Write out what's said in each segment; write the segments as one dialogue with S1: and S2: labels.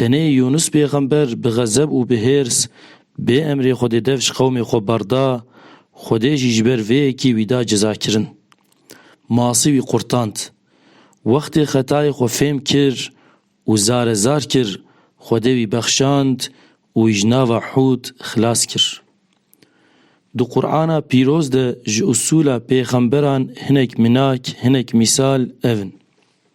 S1: Tenê Yûnus pêxember bi xezeb û bi hêrs bê emrê Xwedê dev ji qewmê xwe berda, Xwedê jî ji ber vê yekê wî da cezakirin. Masî wî qurtand. Wextê xetayê xwe fêm kir û zare zar kir, Xwedê wî bexşand û wî ji nava Hûd xilas kir. Di Qur'ana pîroz de ji usûla pêxemberan hinek minak, hinek mîsal ev in.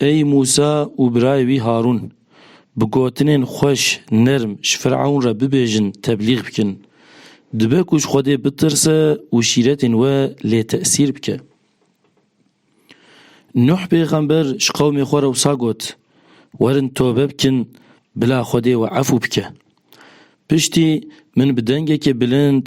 S1: Ey Mûsa û birayê wî Harûn! Bi gotinên xweş, nerm ji Fir'ewn re bibêjin teblîg bikin. Dibe ku ji Xwedê bitirse û şîretên we lê tesîr bike. Nuh pêxember ji qewmê xwe re wisa got, Werin tobe bikin, bila Xwedê we efû bike. Piştî min bi dengekê bilind,